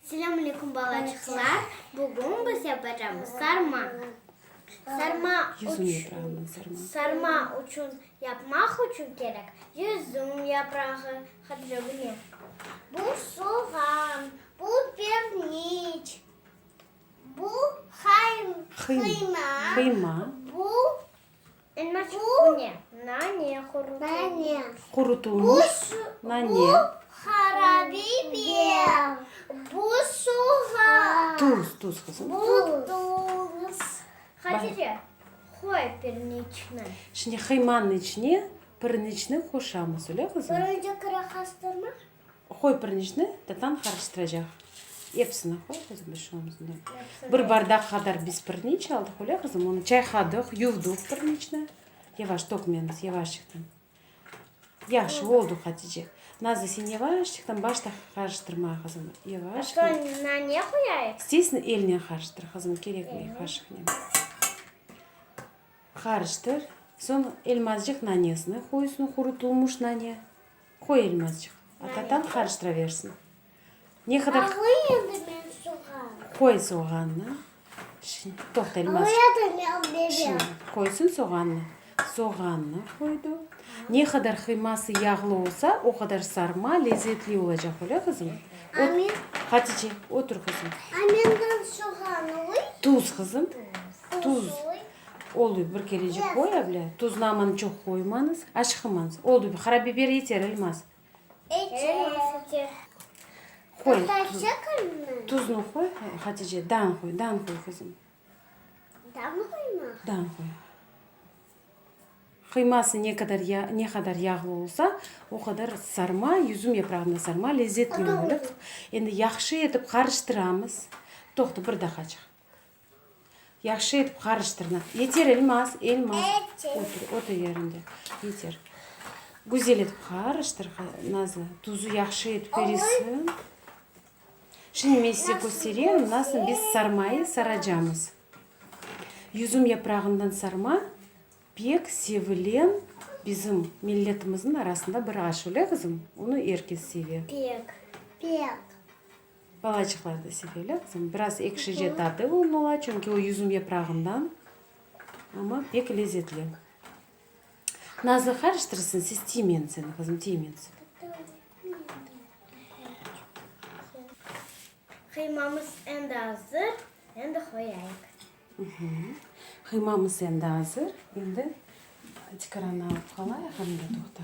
Selâm aleyküm balaçıqlar, bugün biz yapacamız sarma. Sarma sarma uçün yapmaq uçün kerek, yüzüm yaprağı, hadrabine. Bu soğan, bu perniç, bu qıyma, bu Qurutulmış nane. Tuz, tuz, qızım. Şimdi qıymanıñ içine pirineçni qoşamız, öyle qızım? Qoy pirinçni, tatam qarıştıracaq. Episini qoy qızım, bir şey olmaz unda. Bir bardaq qadar biz pirinç aldıq, öyle qızım? Onı çayqadıq, yuvdıq pirinçni. Yavaş, tökmemiz, yavaşçıqtan. Yahşı, oldu, Hatice. Nazlı, sen yavaşçıqtan başta qarıştırma, qızım. Yavaşçıqtan. Ata, buna ne qoyayıq? İsteysin, elnen qarıştır, qızım, kerekmey, qaşıqnen. Qarıştır. Soñ elmazcıq nanesini qoy üstüne, qurutılmış nane. Qoy elini azcıq. Atatam qarıştıraversin. Ne qadar? Alayım endi men soğan. Qoy soğannı. Şimdi toqta elini azcıq. Alayadım ya bebe. Şimdi qoysın soğannı. Soğannı qoydı. Ne qadar qıyması yağlı olsa, o qadar sarma lezetli olacaq, öyle qızım? A men? Hatice, otur qızım. A menden soğan oy? Tuz qızım. Tuz. Tuz oy. Oldı, bir kelecik boy avle, tuzlamanı çoq qoymanız, aşqımanız. Oldı, bir qarabiber yeter, ilmaz? Yeter. Qoy. Tuznı qoy, Hatice, dan qoy, dan qoy, qızım. Dan mı qoyma? Dan qoy. Qıyması ne qadar ya, ne qadar yağlı olsa, o qadar sarma, yüzüm yaprağında sarma lezzetli olur. Endi yahşı etip qarıştıramız. Toqta, bir daqacıq. Yahşı etip qarıştırına. Yeter, Elmaz, Elmaz. Otur, otur yerinde. Yeter. Güzel etip qarıştır, Nazlı. Tuzu yahşı etip erisin. Şimdi men size köstereyim, nasıl biz sarmayı saracamız. Yüzüm yaprağından sarma pek sevilen bizim milletimizin arasında bir aş, öyle qızım? Onu er kes seve. Pek, pek. Balacıqlar da sevele, qızım. Biraz ekşice tadı onıñ ola, çünki o yüzüm yaprağından. Amma pek lezetli. Nazlı qarıştırsın, siz tiymensin, qızım, tiymensin. Qıymamız endi azır, endi qoyayıq. Qıymamız endi azır, endi tikiranı alıp qalayıq, endi, toqta.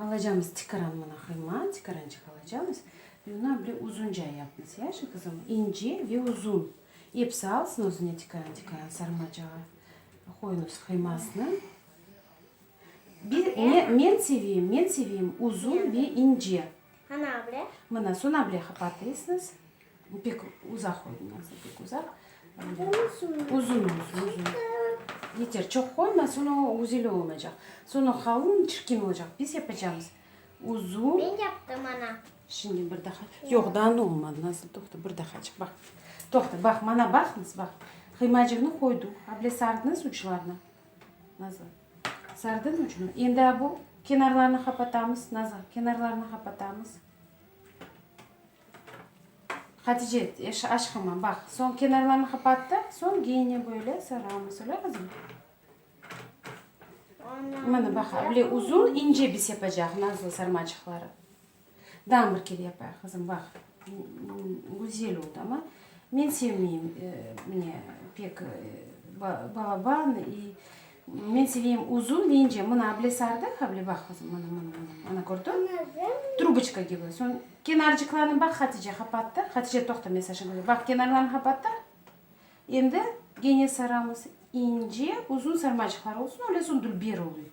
Alacamız tikaran mına qıyma, tikarançıq alacamız ve ondan böyle uzunca yapmız, yaşı qızım, ince ve uzun. Episi alsın özüne tikaran-tikaran sarmacağa. Qoyunız qıymasını. Men seveyim, men seveyim uzun ve ince. Mına, soñra böyle qapatıysız. Pek uzaq oynasın, pek uzaq. Uzun olsun, uzun. Yeter, çoq qoyma, soñra o güzel olmaycaq. Soñra halın çirkin olacaq. Biz yapacağımız uzun. Ben yaptım, ana. Şimdi bir daha. Yoq, daa ne olmadı, Nazlı, toqta, bir dahacıq, baq. Toqta, baq, mana baqıñız, baq. Qıymacığını qoydıq. A bile sardınız uçlarını? Nazlı. Sardın ucunu. Endi a bu kenarlarını qapatamız, Nazlı, kenarlarını qapatamız. Hatice, eş, aşqıma, baq, soñ kenarlarını qapattı, soñ geyine böyle sarğanı, söyle, qızım. Mına, baq, böyle uzun, ince biz yapacaq, nazlı sarmaçıqları. Daa bir kere yapayıq, qızım, baq, güzel ol, tamam. Men sevmeyim, mine, pek, balaban, i, Men seveyim uzun deyince, mına able sardı, able baq qızım, mına, mına, mına, mına kördiñ, truboçka kibi, soñ kenarcıqlarını baq, Hatice qapattı, Hatice toqta, men Saşa köreyim, baq, kenarlarını qapattı, endi gene saramız, ince, uzun sarmacıqlar olsun, öyle soñ dülber oluy.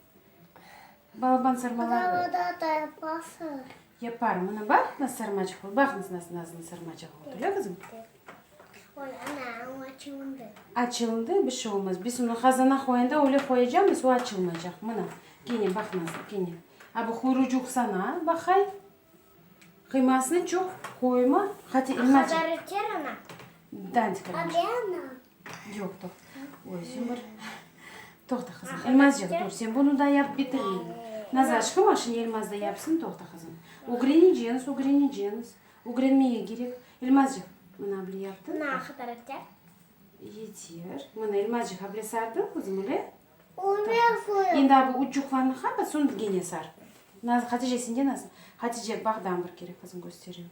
Balaban sarmalar. Dağda da yapasız. Yapar, mına baq, nasıl sarmacıq oldu. Baq, nasıl nasıl nazlı sarmacıq oldu. Öyle qızım? Oy, ana, o açılındı. Açılındı, bir şey olmaz. Biz onu qazana qoyanda öyle qoyacağımız, o açılmayacaq. Mına, gene baq, nazlı, gene. A bu quyrucuq sana, baqay. Qıymasını çoq qoyma, hati ilma çek. Qadarı ter ana? Dant kırmış. Ade ana? Yoq, toq. Oy, sen bir. Toqta, qızım. Elmazcığım, dur, sen bunu da yapıp bitirmedin. Nazar, aşkım, a şimdi Elmaz da yapsın, toqta, qızım. Ögreneceniz, ögreneceniz. Ögrenmege kerek. Elmazcığım, mına abile yaptın. Na qadarı ter? Yeter. Mına Elmazcığım abile sardın, qızım, öyle? Endi a bu üç cuqlarnıñ hamısın gene sar. Naz, Hatice sende nasıl? Hatice, bağdan bir kere qızım kösteriyu.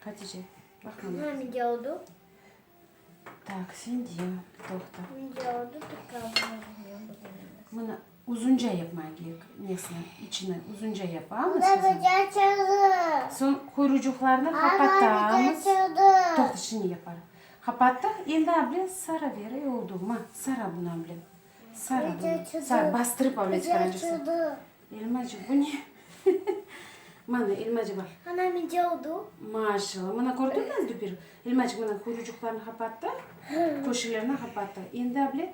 Hatice, baq mana. Hâ, mende oldu. Tak, sende, toqta. Mende oldu, tek qaldı. Mına. Uzunca yapmağa kerek nesne, içini uzunca yapamız. Ana bize açıldı. Soñ quyrucuqlarını qapatamız. Toqtı şimdi yapar. Qapattıq, endi able sara ber, e oldu mı? Sara bunı able. Sara bunı. Sara, bastırıp able çıqaracaksın. Elmacı bu ne? Mana elmacı bar. Ana mence oldu. Maşallah, mana kördün mü oldu bir? Elmacı mana quyrucuqlarını qapattı, köşelerni qapattı. Endi able.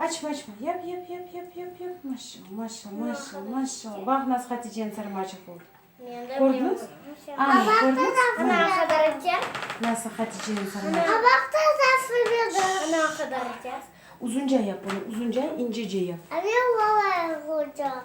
Açma, açma. Yap, yap, yap, yap, yap, yap. Maşallah, maşallah, maşallah, maşallah. Baq, nasıl Haticeniñ sarmaçıq oldı. Kördüñiz? Anne, kördüñiz? Ana qadar ete. Nasıl Haticeniñ sarmaçıq. Qabaq da tafır berdi. Ana qadar ete. Uzunca yap, onu uzunca, incece yap. Anne, olar uzunca.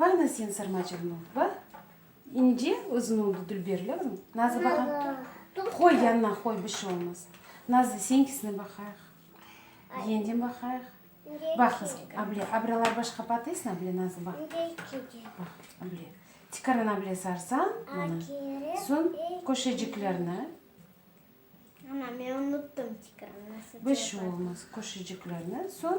Bağna sen sarma çırını va ince uzun oldı dülber lazım nazı baqa qoy yanına qoy bir şey olmaz nazı seninkisine baqayıq yengden baqayıq baq qız able abrelar başqa patesni able nazı baq baq able tikardan able sarsañ mana soñ köşeciklerni ana men unutdım tikardan nasıl bir şey olmaz köşeciklerni soñ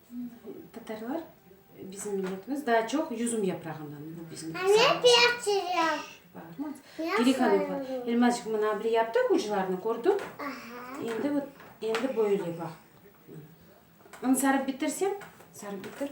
Tatarlar, bizim milletimiz, daa çoq yüzüm yaprağından, bu bizim giri hanımlar. Elmazcıq, mına bile yaptıq uclarını, kördiñ? Endi vot, endi böyle baq. Mına. Inı sarıp bitirsem, sarıp bitir.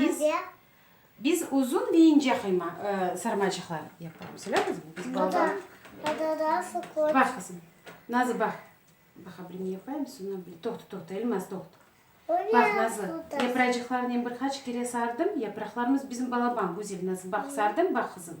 Biz, biz uzun ve ince qıyma, sarmacıqlar yapamız, öyle qızım? Biz baldan. Bax, qızım, Nazlı, bax. Bax, abri ne yapayım, sonra bir, toqta, toqta, Elmaz, toqta. Bax, Nazlı, yapracıqlarınen bir qaç kere sardım, yapraqlarımız bizim balaban, güzel, Nazlı, bax, sardım, bax, qızım.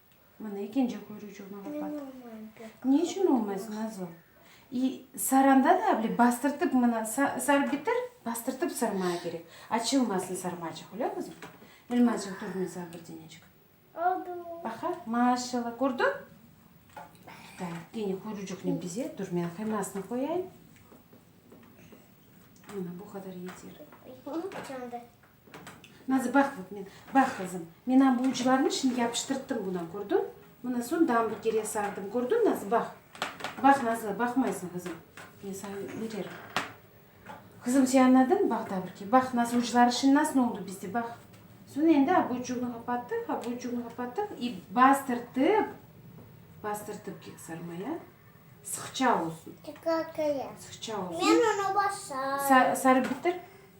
Mına, ekinci kuyrucığına bapat. Ne içün olmaysın, Azo? İ, saranda da avle bastırtıp mına sa, sarıp bitir, bastırtıp sarmaya kerek. Açılmasın sarmacıq, öyle qızım? Elmacıq, tur men saña bir denecik. Oldu. Baqa, maşallah, kördiñ? Da, gene kuyrucıqnen bezet, dur men qıymasını qoyayım. Mına, bu qadar yeter. Hı, candı. Nazı, baq, vot men, baq, qızım, men am bu uclarnı şimdi yapıştırttım buna, kördiñ? Mına soñ damburgerge sardım, kördiñ, Nazı, baq. Baq, Nazı, baqmaysıñ, qızım, men saña öğrerim. Qızım, sen añladıñ, baq, daburge, baq, Nazı, ucları şimdi nasıl oldı bizde, baq. Soñ endi abuçugnı qapattıq, abuçugnı qapattıq i bastırtıp, bastırtıp kek sarmaya, sıqça olsun. Sıqça olsun. Men onı basarım. Sarıp bitir.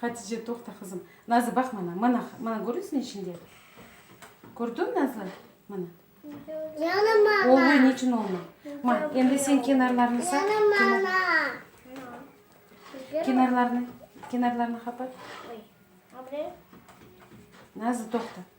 Hatice, toqta, qızım. Nazlı, baq mana, mana, mana körüsün içinde? Kördiñ, Nazlı? Mana. Yana mama. Olma, ne içün olma? Ma, endi sen kenarlarını saq. Yana mama. Kenarlarını, kenarlarını qapat. Nazlı, toqta.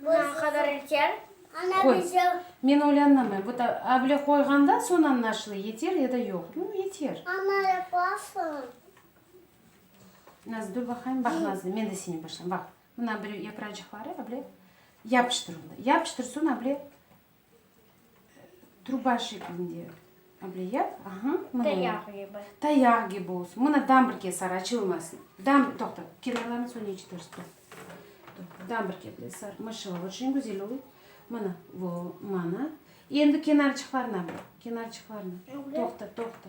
Bundan qadar erken? Qoy, men oylanamay, bu da able qoyğanda soñ añlaşılı, yeter ya da yoq. Bu yeter. Ana, yapasıñ. Nazlı, dur baqayım, baq, Nazlı, men de seni başlayım, baq. Mına bir yapıracıqları able yapıştır, yapıştır, soñ able. Truba şeklinde. Ableyat, aha. Tayaq kibi. Tayaq kibi olsun. Mına dam bir kez sar, açılmasın. Dam, toqta, kenarlarını soñ eçitirsiz, toqta. Dam bir kez de sar, maşallah, oçün güzel oldı. Mına, vo, mana. Endi kenarçıqlarına bak, kenarçıqlarına. Toqta, toqta.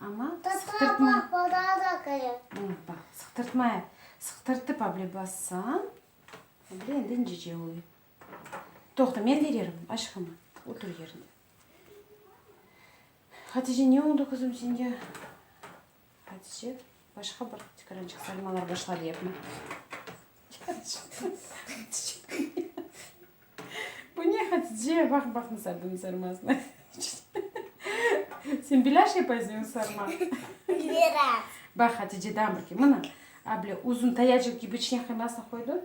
Amma sıqtırtma. Sıqtırtma, sıqtırtıp avle bassañ, avle endi incece oluy. Toqta, men bererim, aşqım, otur yeriñde. Hatice, ne oldu, qızım, señge? Hatice. Başqa bir tüküren çıqsarmalar başladı yapma. Bu ne Hatice? Baq baq nasıl adını sarmasını. Sen bilaş yapaysan sarma. Biraz. Baq Hatice'den bir ki mına. Able uzun tayacık gibi içine kıymasını koydu.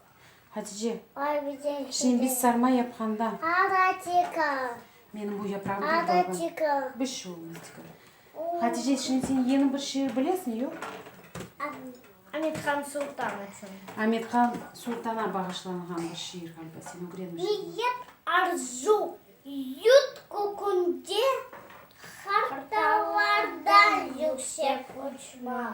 Hatice, şimdi biz sarma yapqanda, menim bu yaprağım pek dalğan, bir şey olmaz, degil. Hatice, şimdi sen yeni bir şiir bilesiñ, yoq? Amethan Sultan içün. Amethan Sultana bağışlanğan bir şiir, ğaliba, sen ögrenmişsiñ. Arzu, yut kökünde hartalardan yüksek uçmaq.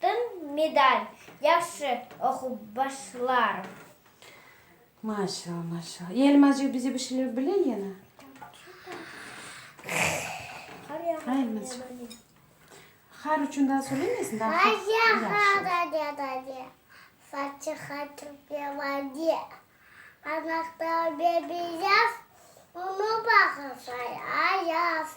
Tın medal, yahşı oqup başlarım. Maşallah, maşallah. İ Elmazcık bize bir şeyler bile yene. Qar yağmur Elmazcık. yağmur. Qar içün daa söylemeysiñ, daa Qar qar yağar yağsın. dede. Fatiha Türkmenbadi. Anahtar bebiyaz, Onu bağırsa yayaz.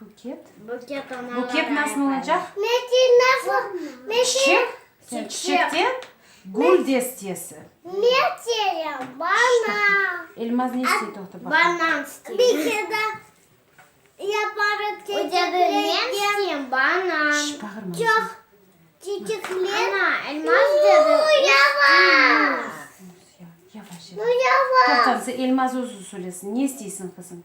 Buket. Buket nasıl olacaq? Çiçek. Çiçekten gül destesi. Elmaz ne istey, toqta baqayım. Toqta, Elmaz özü söylesin. Ne isteysiñ, qızım?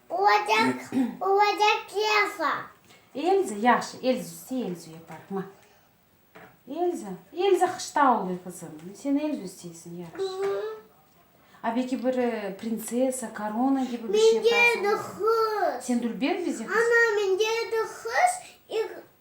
Olacaq, olacaq Elza. Elza, yahşı, Elza üstü Elza yapar, ma. Elza, Elza qışta oluy, qızım. Sen Elza üsteysiñ, yahşı. A beki bir prinsessa, korona kibi bir şey yaparsıñ. Mende edi qız. Sen dülber bize qız. Ana, mende edi qız,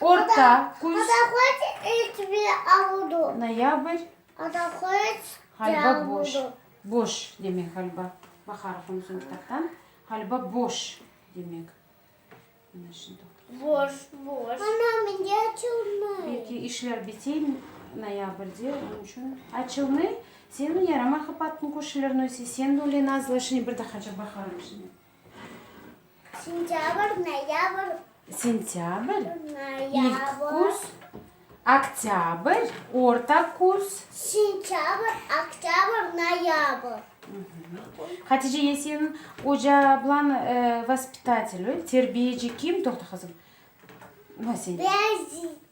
Orta küz, noyabr, ğalba boş, boş demek ğalba, baq harfım soñ kitaptan, ğalba boş demek. Mana şundoq. Belki işler bitey noyabrde, onıñ içün. Açılnıy, seniñ yarama qapattıñ, körşilerniñ özi, sen öyle nazlaşıñ, bir daha çabaqlarım şimdi. Sentâbr, noyâbr. Sentâbr, ilk küz. Oktâbr, orta küz. Sentâbr, oktâbr, noyâbr. Hatice, ya sen oca ablan vaspitatel öy, terbiyeci kim? Toqta, qızım. Ben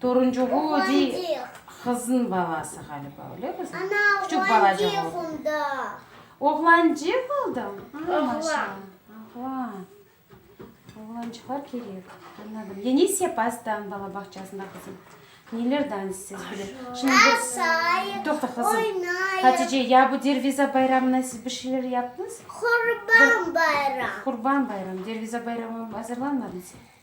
Toruncuğu ödey qızın balası ğaliba, öyle qızım? Ana, oğlancıq oldı. Oğlancıq oldı? Oğlan. Oğlan. Oğlancıqlar kerek. Anladım. Yenis yapasıdan bala bağçasında qızım? Nelerden siz bile? Yasayım, Toqta qızım. Oynayım. Hatice, ya bu Derviza bayramına siz bir şeyler yaptınız? Qurban bayram. Qurban bayramı. Derviza bayramı azırlanmadınız?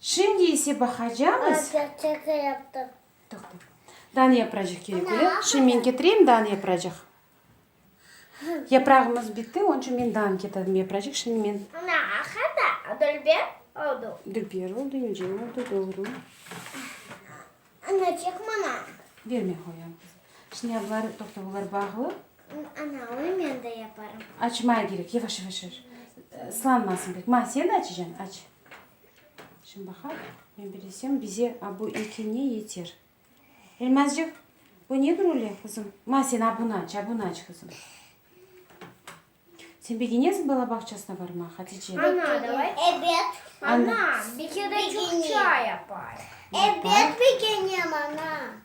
Şimdi ise baqacamız. Toqta. Dan yapracıq kerek öyle. Şimdi men ketireyim dan yapracıq. Yaprağımız bitti, onıñ içün men dan ketirdim yapracıq. Şimdi men. Dülber oldu. Dülber oldu, ince oldu, doğru. Bermey qoyam. Şimdi bunlar, toqta, bunlar bağlı. Açmay kerek, yavaş, yavaş, yavaş. Islanmasın pek. Ma, sen açacansın, aç. Şimdi baqaq, men bir desem, bize a bu eki ne yeter? Elmazcıq, bu ne bir öyle qızım? Ma, sen a bunı aç, a bunı aç qızım. Sen begenesiñ bala bağçasına barmağa, Hatice? Ana, davay. Ebet. Ana, bir kere de Çukça yapayıq. Ebet, begenem, ana.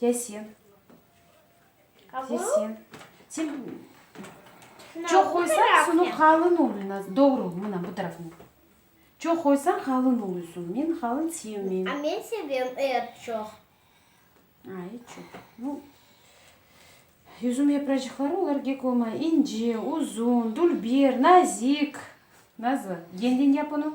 Ya sen? Ya sen? Sen çoq qoysañ, sunuv qalın oluy. Doğru, mına, bu tarafına. Çoq qoysañ, qalın oluysuñ. Men qalın sevmeyim. A men sevem, et çoq. A, et çoq. Nu, yüzüm yapracıqları, olar kek olmay. İnce, uzun, dülber, nazik. Nazlı, yeñden yapın o.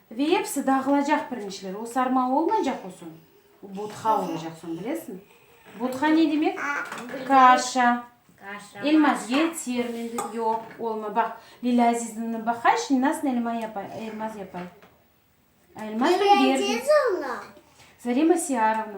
Ve episi dağılacaq pirinçler. O sarma olmaycaq o soñ. O botha olacaq soñ, bilesiñ? Botha ne demek? Kaşa. Elma yeter mende. Yoq, olmay. Baq, Lilâ Azizovnanı baqayşın, nasıl elma yapay, elmaz yapay. A elmaz ben berdim. Lilâ Azizovna? Zarema Siarovna.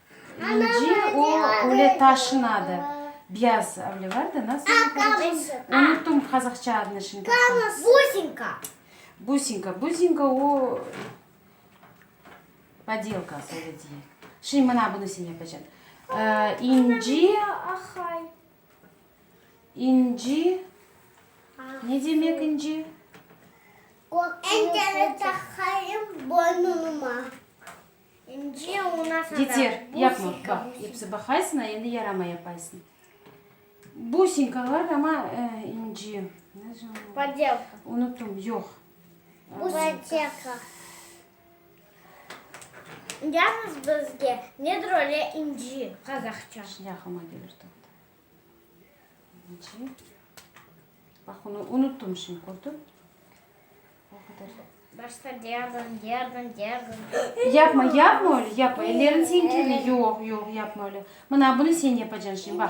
Önce o öyle taşınadı. Biyaz öyle vardı, nasıl onı qazaqça? Unuttum qazaqça adını şimdi. Businka. Businka. Businka o podelka, öyle diyek. Şimdi mına bunı sen yapacağım. İnci. Ahay. İnci. Ne demek inci? Ender'e takayım boynuma. Yeter, yapma, baq, episi baqaysın, a endi yarama yapaysın. Businka var, amma inci. Podelka. Unuttum, yoq. Buteka. Yazıñız bizge, nedir öyle inci, qazaqça? Şimdi aqlıma kelir, toqta. İnci. Baq, onı unuttım şimdi, kördiñ? O qadar. Başta diyardım, diyardım, diyardım. Yapma, yapma öyle, yapma. Ellerin senin kirli. Yoq, yoq, yapma öyle. Mına bunı sen yapacaksın şimdi, baq.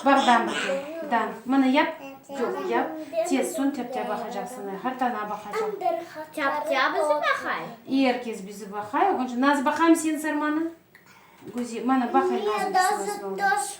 Baq, dan bakayım, dan. Mına yap. Yoq, yap. Tez, son tepte baqacaksın. Hartana baqacaq. Tepte bizi baqay. Er kes bizi baqay. Onca naz baqayım senin sarmanı. Güzel, mana baqay nazım. Döş,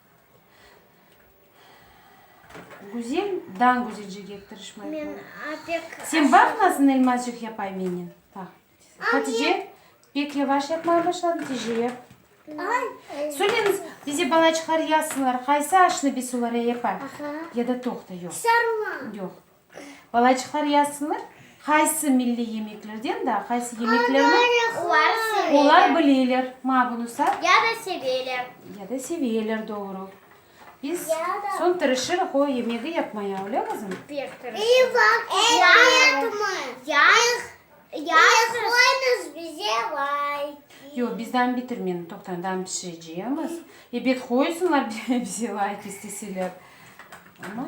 Güzel, dan güzel ceket tırışmay qoy. Men pek Sen aşağı- baq nasıl elmazcıq yapay menen. Baq. Hatice, pek yavaş yapmaya başladın, tece yap. Ay, Söyleñiz, bize balaçıqlar yazsınlar, qaysı aşnı biz olarğa yapay? Aha. Ya da toqta, yoq, Sarılan. yoq. Balaçıqlar yasınır, qaysı milliy yemeklerden daa qaysı yemeklerni olar bileler. Maa bunı sa. Ya da seveler. Ya da seveler, doğru. Biz soñ tırışırıq o yemegi yapmaya, öyle qızım? Pek tırışırıq. Yoq, biz daam bitirmeniñ toqtan daam pişirecemiz. Ebet qoysınlar bize layk isteseler. Amma.